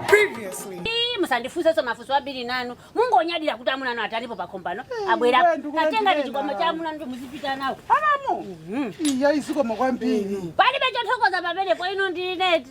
Previously. Ii, musandifunsenso mafunso ambiri nanu mungonyadira kuti amuna anu atalipo pakombano iwe abwera ndikulandira atenga chikwama cha amuna anu muzipita nawo Alamu. Iya isikoma kwambiri. palibe chothokoza pamenepo ino ndineti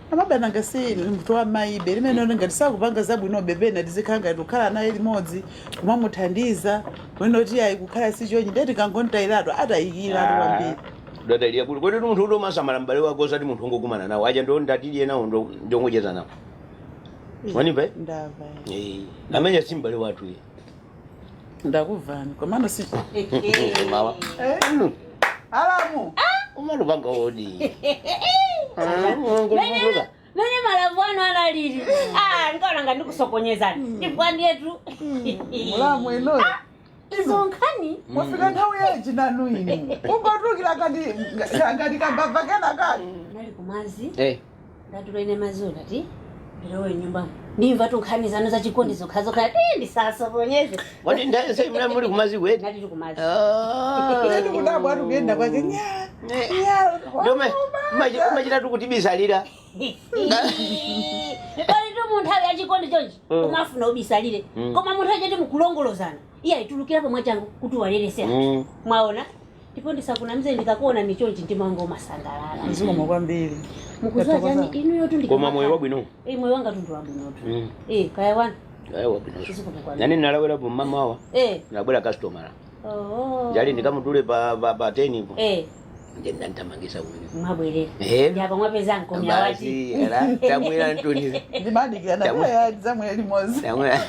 Amaba nanga si inu munthu wa maybe limenelo ngati sakupanga zabwinobe pena tizikhala ngati kukhala naye limodzi kumamuthandiza kunena kuti ayi kukhala si chonchi ndiye tikangomutayiratu atayikiratu Ah, kwambiri udadalira kuti kodi munthu uti umasamala m'bale wako osati munthu ongokumana nawo aja ndo ndatidye nawo ndo ndi ongocheza nawo Ih, wandimva eh? ndamva eh. Eh, amene si m'bale wathu eh. ndakuvani komano si Mama. Eh, alamu umanipanga odi ngolumuluka nene malavu anu analili Ah, ndikaona nga ndikusokonezani ndipo ndiyetu mlamu inuyo izo nkhani mwafika nthawi yanji nanu inu ungotulukira kati kati kambava kena kani nali kumadzi Eh, ndatula ine madziwo ndati ndilowe nyumbamo ndimva tunkhani zanu zachikondi zokhazokha ti ndisasokoneze Wati ndani sasa mna muli kumadziko eti? ndati kumadzi Ah. Ndati kudabwa ati kuyenda kwake nyaya. Eh, Nyaya. Ndio ma- machitatu kutibisalira. palitu munthawi yachikondi chonchi Mm. umafuna ubisalire Mm. koma munthawi yoti mukulongololana iye atulukirapo mwachangu kuti walelesa Mm. mwaona ndipo ndisakunamize ndikakuona ni chonchi mtima wanga umasangalala zikomo kwambiri mukudziwa chani inuyotu koma moyo wabwino Eh, moyo wanga ndithu wabwinotu Mm. Eh, kaya wanu Ayi, wabwino zikomo kwambiri nane ndinalawera pa mama wawa Eh, ndabwera customer oh. njali ndikamutule pa pa pa 10 ipo Eh. ndiye anandithamangitsa kumene mwabwerera Ehe. ndi apa mwapeza mkomya wati basi era tamwera ntuniza ndimadikirana Tamwe. kaya tidzamwera limodzi tamwera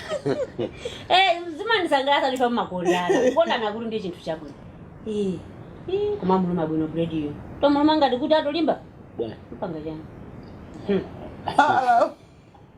Eh, zimandisangalatsa ndipo mumakondana kukondanakutu ndi chinthu chabwino Eh, eh, koma muluma bwino bulediyo tamuluma ngati kuti atolimba bwana mukupanga chani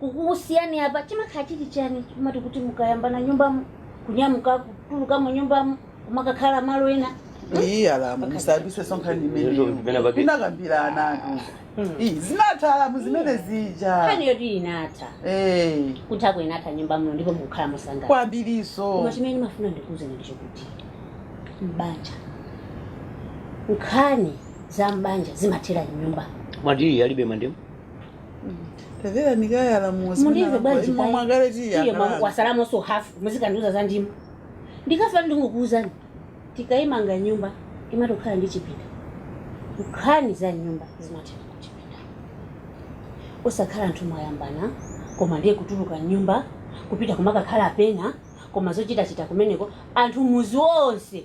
kukusiyani apa chimakhala chili chani choti kuti mukayambana nyumbamo kunyamuka kutulukamo nyumbamo kumakakhala malo ena iyi alamu musayambitsenso nkhani imeneyo Zimene pake- tinakambiranatu iyi zinatha alamu zimene zija nkhani yoti inatha Eh, kuthako inatha nyumba muno ndipo mukukhala mosangalala kwambirinso koma chimene ndimafuna ndikuuzeni ndicho kuti mbanja nkhani za mbanja zimathera m'nyumba mwati alibe mandemu tamverani kaye alamu mundimve bwanji imwe mwakale iye tiyakala watsalamonso hafu muzikandiuza za ndimo ndikafa ndingokuuzani tikaimanga nyumba imatokhala ndi chipinda nkhani za m'nyumba zimathera ku chipinda osakhala anthu mwayambana koma ndiye kutuluka m'nyumba kupita kumakakhala pena koma zochitachita kumeneko anthu mudzi wonse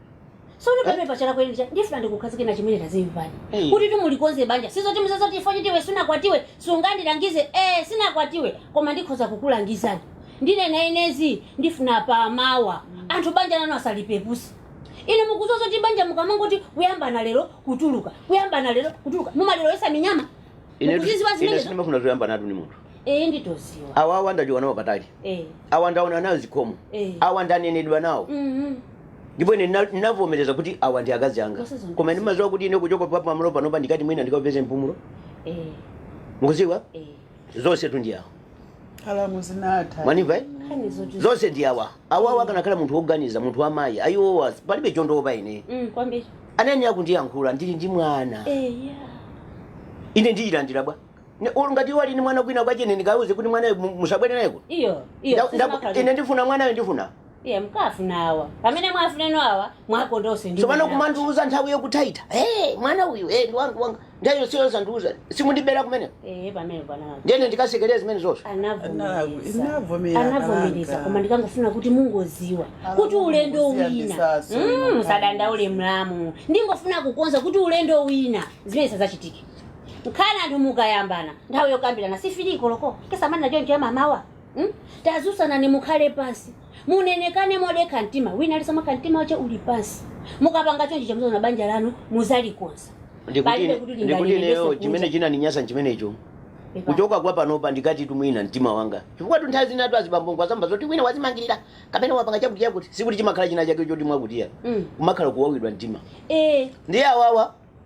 sono pamene patsala kwenikweni ndifuna ndikukhazike na chimene tazimvani Eh. kuti timulikonze banja sizoti muziti ifeyo oti iwe sunakwatiwe sungandilangize eh sinakwatiwe koma ndikhoza kukulangizani ine nanenazi ndifuna pamawa anthu banja lanu asalipeputse ine mukuziwa zoti banja mukamangoti kuyambana lero kutuluka kuyambana lero kutuluka mumalilowetsa minyama ine mukuziziwa ine zimenezo sindimafuna zoyambanatu ni munthu eh nditoziwa awawa ndachoka nawo patali eh awa ndaona nawo zikomo Eh. awa ndanenedwa nawo mhm ndipo ine ndina- ndinavomereza kuti awa ndi akazi anga Musazungumze. koma ndimadziwa kuti ine kuchoka pa pamalo panopa ndikati mwina ndikapeze mpumulo Eh, mukuziwa eh. zonsetu ndi awa alamu zinatha mwandimva eh? Nkhani zoti- zonse ndi awa awawa akanakhala munthu woganiza munthu wamayi ayi owo palibe chondiwopa ine Mm, kwambiri. akanandiyankhula ndili ndi mwana Eh, yeah. ine ndiyilandira bwa Ne- ulu ngati iwo ali ni mwana kwina kwakene ndikawuze kuti mwanayo mu- musabwere naye kuno Iyo, iyo. Nda- sisi nda- makhalidwe. ine ndifuna mwanayo ndifuna iye nkafuna awa pamene mwafuna inu awa mwakonda nonse ndi tsopano mwana. kumandiuza nthawi yothaitha hey, mwana uyu hey, ndi wanga wanga nthawi yonseyo osandiuza si kundibera kumene Eh, pamene pana ndiye ine ndikasekerera zimene zonse anavomereza Anavomera, anavomereza kalanga. koma ndikangofuna kuti mungoziwa Ala, kuti ulendo mungoziya wina ndisaso, Mm, kalanga. musadandaule mlamu ndingofuna kukonza kuti ulendo wina zimenezi sazachitike nkhani anthu mukayambana nthawi yokambirana si fili koloko kesamani nacho ncho yammawa Hmm? tadzutsanani mukhale pansi munenekane modekha mtima wina ali samakha mtima wache uli pansi mukapanga chonchi cha muzaona banja lanu muzalikonza Palibe kuti ndikuti lingalire ineyo ndiso chimene kunja. chinaninyasa nchimenecho Pepa. kuchoka kwa panopa ndikati kuti mwina mtima wanga chifukwatu nthawi zinatu azibambongo azamva zoti wina wazimangirira kapena wapanga chakuti chakuti sikuti chimakhala china chake choti mwakutiya Mm. kumakhala kuwawidwa mtima Eh, ndiye awawa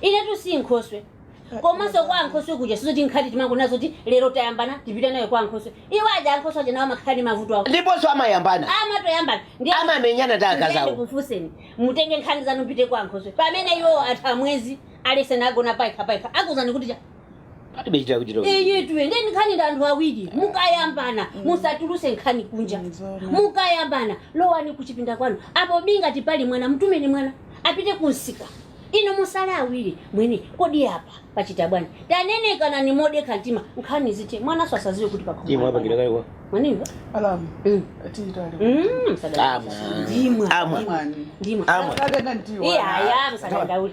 inetu si nkhoswe komanso kwa ankhoswe kuja sizoti nkhani timangonena zoti lero tayambana tipite nayo kwa ankhoswe iwo aja ankhoswe aja nawo amakhala ndi mavuto awo ndiponso amayambana amatoyambana ndiye amamenyana ndi akazi awo kufuna inu mutenge nkhani zanu mpite kwa ankhoswe pamene iwo atha mwezi onse akugona payekha payekha akuuzani kuti cha palibe chitira kuti tiro iyitu ndi nkhani ya anthu awiri mukayambana musatuluse nkhani kunja Nzona. mukayambana lowani kuchipinda kwanu apo bi ngati pali mwana mtumeni mwana apite kumsika inu musale awiri mwini kodi apa pachita bwanji tanenekanani modekha mtima nkhani zithe mwana asaziwe kuti imwe apangira pakhomo kale kwa mwandimva alamu Mm. atitali Mm, msadala. Amwa. Ndimwa. Amwa. mwani ndimwa Amwa. akakana ndiwo iyaya msadandaule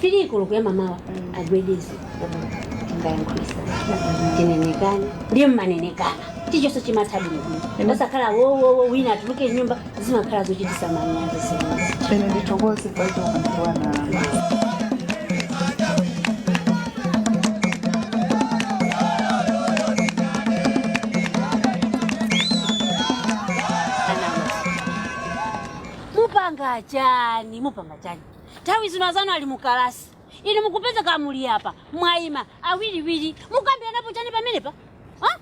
fili koloko ya mamawa agwedeze ngayankhulisa tinenekane ndiye mmanenekana chilichonse chimatha bwinobwino osakhala wowowo wina atuluke m'nyumba zimakhala zochitisa manyazi zimenezi ine ndithokoze pachokandiwana mupanga chani mupanga chani Nthawi zino azanu ali mu kalasi, inu mukupezeka muli apa mwaima awiriwiri, mukambiranapo chani pamenepa ha?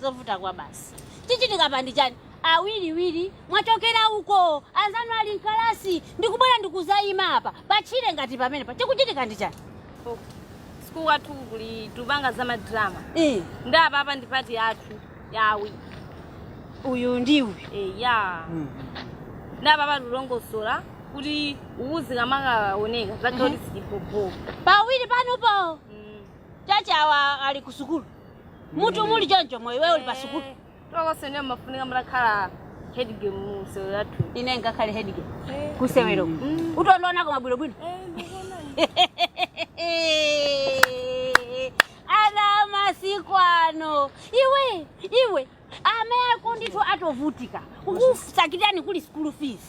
zovuta kwabasi chichitika apa ndi chani awiriwiri mwachokera uko anzanu ali mkalasi ndikubwera ndikuzaima apa patchire ngati pamenepa chikuchitika ndi chani sukulu kwathu kuli tupanga za madrama Eh, ndi apapa ndi pati yathu yawi uyu ndi iwe eya Mm. nde apapa tulongosola kuti uzikamakaoneka zakuti sikipopo pawiri panopo chifukwa awa ali ku sukulu mutu muli choncho moyo iwe uli pa sukulu tonse ndiyo mafunika mutakhala headgame musewero yathu ine ngakhale headgame kusewero Mm. utondionako bwinobwino ana amasiku ano iwe iwe amako ndithu atovutika kukusakirani kuli school fees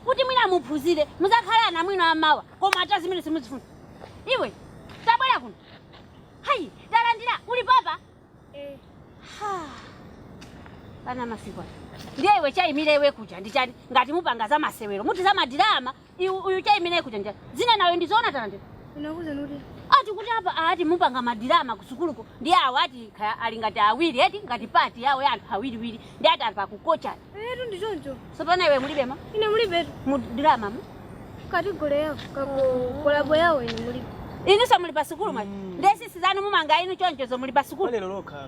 kuti mwina muphunzire muzakhala ana abwino amawa koma ati zimene simuzifuna iwe tabwera kuno ayi talandira uli papa Ha. ana amasiku ano ndiye iwe chaimire iwe kuja ndichani ngati mupanga za masewero muti za madrama Iwe uyu chaimire kuja ndichani. Zina nayo ndizoona tande. Unakuza nuti. Ati kuti apa ati mupanga madrama kusukuluko ndi awo ati kha- ali ngati awiri eti ngati pati yawo ya anthu awiriwiri ndi ati ali pakukocha. Etu ndi choncho. Sopano iwe mulibemo Ine mulibe mu drama mu. kategori yawo kakolabo yawo ine mulibe. Inu somuli pa sukulu mwe. Nde sisi wanu mumanga inu choncho zomuli pa sukulu. Walero lokha.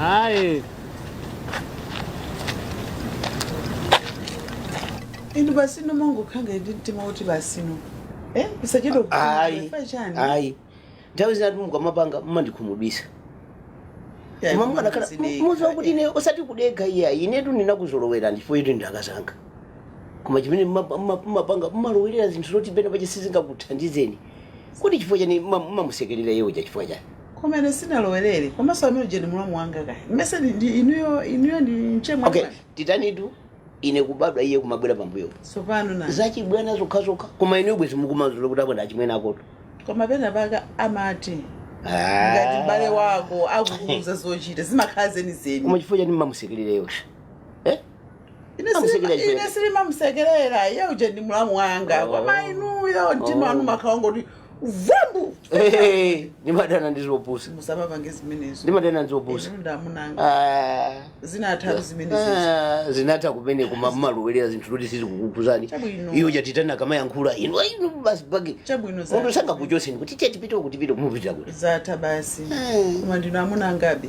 Ayi. inu basi inu mumangokhala ndi mtima woti basi inu eh usachedwe ayi kufa chani ayi nthawi zina mukamapanga mumandikhumudwisa Ya, koma mukanakhala odekha, muziwa kuti eh. ine osati kudekha iya inetu ndinakuzolowerani chifukwa inutu nda kazanga koma chimene mumapanga mumalowelera zinthu zoti penapake sizingakuthandizeni Kodi chifukwa chani mmamusekelera iye uja chifukwa chani? Koma ine sinalowerere komanso amene uja ndi mlamu wanga kaya mumuyese ndi, ndi inuyo inuyo ndi mchemwali Okay, wake titanitu ine kubadwa iye kumabwera pambuyopo. tsopano nanga Zachibwana zokhazokha koma inuyo bwezi mukumazula kuti abwana achimwene akotu. koma pena pake amati ngati m'bale wako akukuuza zochita zimakhala zenizeni Koma chifukwa chani mmamusekelera iye uja? Eh? Ine silima- Amusekelera chifukwa chake. Ine sindimamusekerera iye uje ndi mlamu wanga Oh. koma inuyo mtima Oh. wanu mumakhala ngoti vambu Eh, ndimadana ndi zopusa musamapange zimenezo ndimadana ndi zopusa Inu ndi amuna anga Ah. zinatha zimenezo Ah, zinatha kumene koma mmalowelera zinthu zoti sizikukukhudzani Chabwino. iyo yatani kamayankhula inu Ai, inu basi paja Chabwino zake. munthu sangakuchoseni kuti tiye tipite uku tipite kumupitira kuti zatha basi Eh. koma ndinu amuna angabe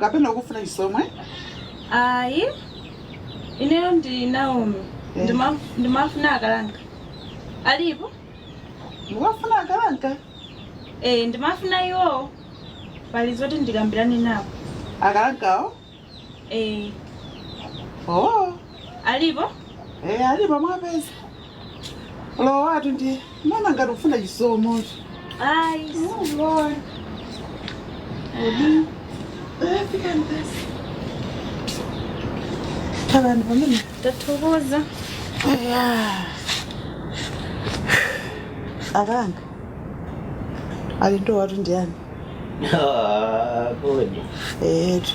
kapena ukufuna Chisomo ayi ineyo ndi naomi Eh. Ndima- ndimafuna a Kalanga alipo mukufuna a Kalanga e ndimafuna iwowo pali zoti ndikambirane nawo a Kalangawo e oo alipo e alipo mwapeza lowanitu ndi mmaona ngati ukufuna chisomocho Ai, lord odi fikani basi khalani pomwepo tathokoza. Eya. a Kalanga alendo anutu ndiyani Ah, kodi. eetu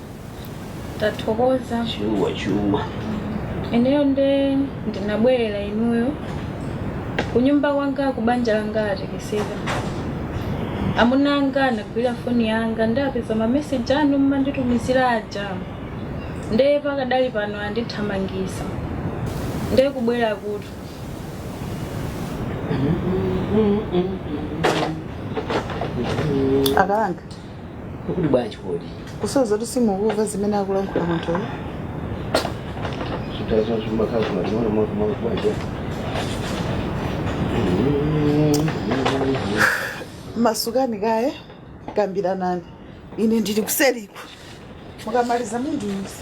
tathokoza chuma chuma ineyo nde ndinabwerera inuyo kunyumba kwanga ku banja langa latekeseka amuna anga anagwira foni yanga nde apeza mameseji anu mmanditumizira aja nde pakadali pano andithamangisa nde kubwera kuti a Kalanga ukuti bwanji kodi kusonyeza kuti simukumva zimene akulankhula munthuyo chitani zo chimakhala koma chimwana mwako mwako bwanji masukani kaye kambiranani ine ndili kuseriku mukamaliza mundiuze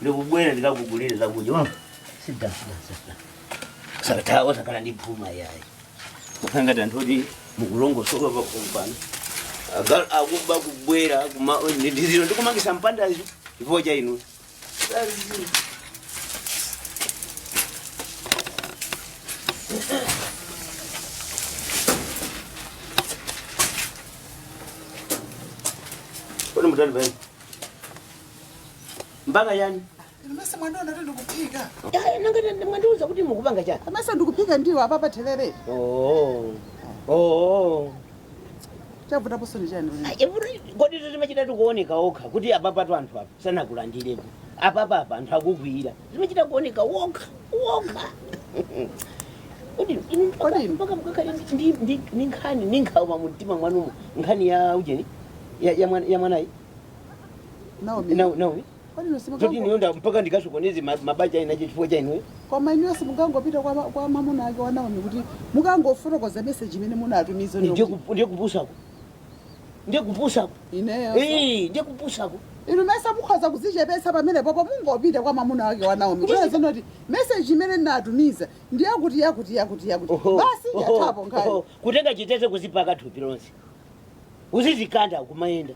ndikubwera ndikakugulire zakudya musathawa musakhale ndi phuma yayi ngati anthu oti mukulongosoka pakhomo pano agalu akuba kubwera kuma- ndi- ndi zino ndikumangisa mpandazi chifukwa cha inu Kodi mutani apa? Mpaka yani? Mesa mwandiona kuti ndikuphika. Yaya nanga mwandiuza kuti mukupanga chani? Mesa ndikuphika ndiwo apa za therere. Oh. Oh. Chavuta pasoni chani. Every kodi zimachita kuoneka okha kuti apapatu anthu apa sanakulandirepo. Apapa apa anthu akugwira. zimachita kuoneka wokha wokha Kodi inu mpaka- Kodi inu- mpaka mkakali ndi- ndi- ndi- ndi nkhani ndi nkhawa mumtima mwanumo nkhani ya ujeni ya- ya mwana- ya mwanayi Naomi, Na- naomi kodi inu zoti simukango- ineyo nda mpaka ndikasokoneze ma- mabanja inetu chifukwa cha inuyo koma inuyo simukangopita kwa ma- kwa mamuna ake wa Naomi kuti mukangofotokoze meseji imene munatumiza ndiye kup- ndiye kupusako ndi kupusako ineyo Ii, ndi kupusako inu mesa mukhoza kudzichepetsa pamenepopo mungopita kwa mamuna wake wa naomi Ndizi- kunena zoti meseji imene ndinatumiza ndi yakuti yakuti yakuti yakuti Oho, basi oho, yathapo oho. nkhani kutenga chitedze kuzipaka thupi lonse kuzidzikanda kumayenda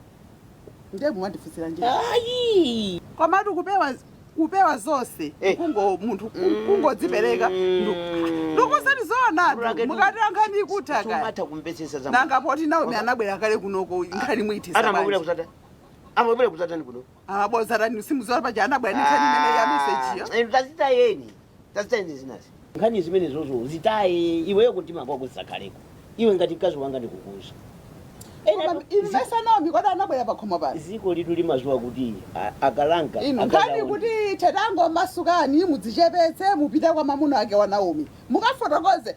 ndiye mwandifunsiranji ayi komatu kupewa kupewa zonse Eh. kungo munthu Mm. kungodzipereka Mm. ndikuuzani zoona Brake, mukati ankhani ikutha kaya sumatha kumvetsetsa za nanga poti naomi Waka- anabwera kale kunoko nkhani muithetsa nanga amabwera bwanji. kuzata amabwera kuzatani kuno amabwera kudzatani simudziwa paja anabwera ndi nkhani imene ya mesejiyo inu tazitayeni tazitayeni zinazo nkhani zimenezozo zitaye iweyo kumtima kwako zisakhaleko iwe ngati mkazi wanga ndikukuuza Koma inu mesa naomi kuti anabwera pakhomo pano dziko lilitu limadziwa kuti a- akalanga inu akazi nkhani awo- kuti ithe tangomasukani mudzichepetse mupite kwa mamuna ake wa naomi mukafotokoze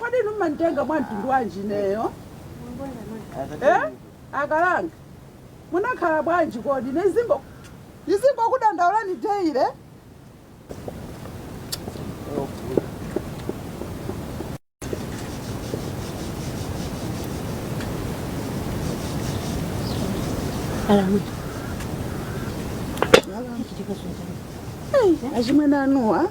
Kodi inu mmanitenga mwa mtundu wanji ineyo? Eh? Akalanga. Munakhala bwanji kodi? Ine ndizingo ndizingokudandaulani daily. Alamu. Hey, achimwene anuwo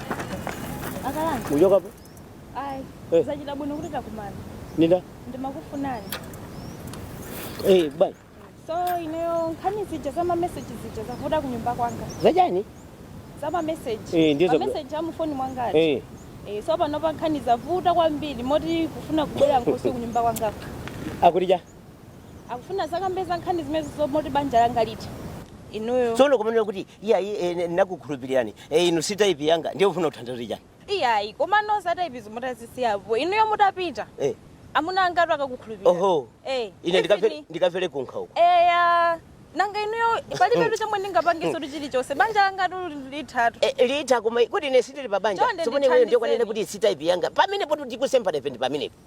akalanga uchokapo ayi Eh. zachita bwino kuti takumana nde ndimakufunani hey, bwana so ineyo nkhani zija za mameseji zija zavuta kunyumba kwanga zachani za mameseji Eh, ndizo- mameseji amufoni mwangatu hey. Eh, so panopa nkhani zavuta kwambiri moti kufuna kubwera nkhoswe kunyumba kwangako akuti cha akufuna adzakambe za nkhani zimenezo zomoti banja langa litha inuyo tsono kumanena kuti iyayi eh, ndakukhulupirirani eh, inu si taipi yanga ndiye ufuna kuthandiza chani iyayi koma nzonse za taipizi mutazisiyapo inuyo mutapita eh. amuna angatu akakukhulupirira oho Eh, ine ndikafe- even- ndikafere kunkhawa uko eya nanga inuyo palibe chomwe ndingapangenso chilichonse banja langatu lithatu Eh, litha koma kuti ine sindili pabanja Chonde tsopano iweyo ndithandizeni. ndiwe unanena kuti si taipi yanga pamenepo tikusemphana ife ndi pamenepo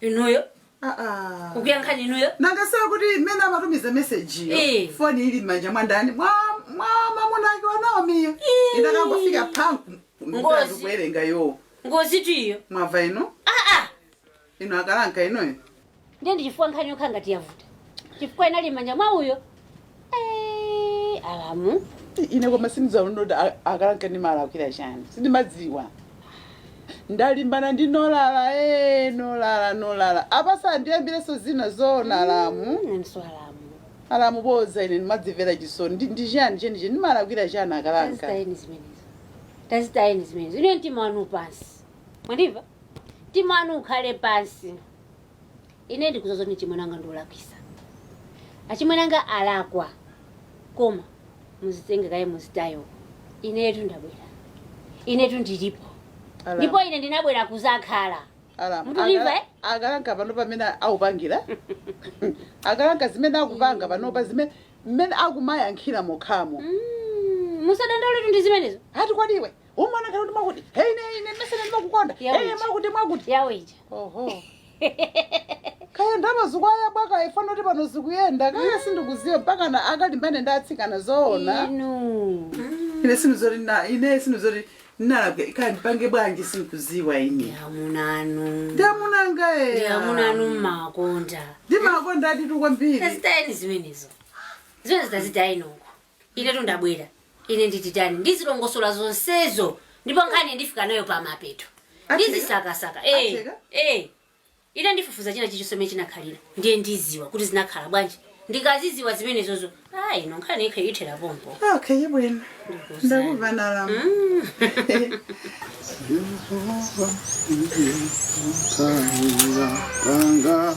inuyo aa kukuyankhani inuyo nanga si awa akuti mmene amatumiza meseji Eh. foni ili m'manja mwa ndani mwa mwa mamuna ake wa naomiyo Eh. inakangofika panku Ngozi. mkazi kuwerenga yo ngozitu iyo mwamva inu aa inu akalanka inuyo ndiye ndichifukwa nkhani yokha ngati yavuta chifukwa inali m'manja mwa uyo Eh, alamu ine koma sindidziwanso kuti a- akalanka ndimalakwira chani sindimadziwa ndalimbana ndi nolala e nolala nolala apaso ndiyambireso zina zoona alamu nanso alamu alamu boza ine ndimadzimvera chisoni Ndi- ndi chani chenicheni ndimalakwira chani akalanka tazitayeni zimenezo tazitayeni zimenezo ine mtima wanu pansi mwandimva mtima wanu ukhale pansi ine ndikuza zoti mchimwene wanga ndiolakwisa achimwene anga alakwa koma muzitenge kaye muzitaye inetu ndabwera inetu ndilipo Ala- ndipo ine ndinabwera kuzakhala Ala- Mukundimva, aga- eh? akalanga panopa mmene aupangira akalanga zimene akupanga panopa zimene mmene akumayankhira mokhamo Mm, musadandaule ndi zimenezo hati kwadiwe umwana kana kuti mwakuti hei ne ine mesene ndimakukonda Yawe. hei mwakuti mwakuti yawo ija oho kaya ndaba zikwaya bwaka ifana kuti pano zikuyenda kaya sindikuziwa mpaka na akalimbane ndi atsikana zoona inu ine sinizoti na ine sinizoti nalabwe kaya ndipange bwanji sindikuziwa ine ndiamunanu ndiamunanga ena ndiamunanu mmakonda ndimakonda nditu kwambiri tazitayeni zimenezo zimenezi tazitayeni uko Inetu ndabwera. Ine ndititani? Ndizilongosola zonsezo. Ndipo nkhani ndifika nayo pa mapeto. Atseka? Ndizisakasaka. Eh. Atseka? Eh. Ine ndifufuza china chilichonse mmene chinakhalira. Ndiye ndiziwa kuti zinakhala bwanji. Ndikaziziwa zimenezozo. Ah, ino nkhani ikhe ithera pompo. Okay, bwino. Ndikuza. Ndakumvani alamu. Yehova ndiye mtanda wanga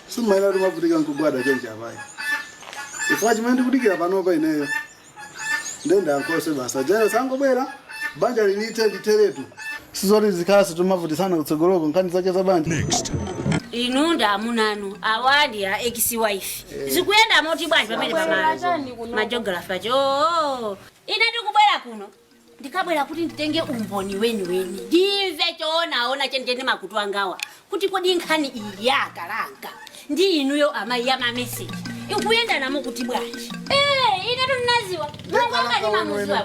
simumayenera kuti mwavutika nkugwada chonchi apa ayi chifukwa chimene ndikudikira panopa ineyo ndenda ankhoswe basi jero sangobwera banjali lithe litheretu sizoti tizikhaso tomavutisana kutsogoloko nkhani zake za banja inu ndi amunanu awa ndi a ex wife zikuyenda moti bwanji pamene pamalo majografa cho ine ndikubwera kuno ndikabwera kuti nditenge umboni weniweni ndimve choonaona chenicheni makutu angawa kuti kodi nkhani iyi ya akalanga ndi inuyo amayi ya mameseji ikuyendana moti bwanji Eh, ine tinaziwa manganga ndimamuziwa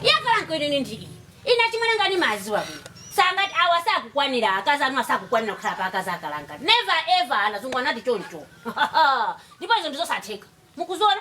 ya akalanka ine ndi iyi ine achimwene anga ndimawaziwa bwino sangati awa sakukwanira akazi anuwa sakukwanira kukhala pa akazi akalanga never ever azungu anati choncho ndipo izo ndizosatheka mukuziona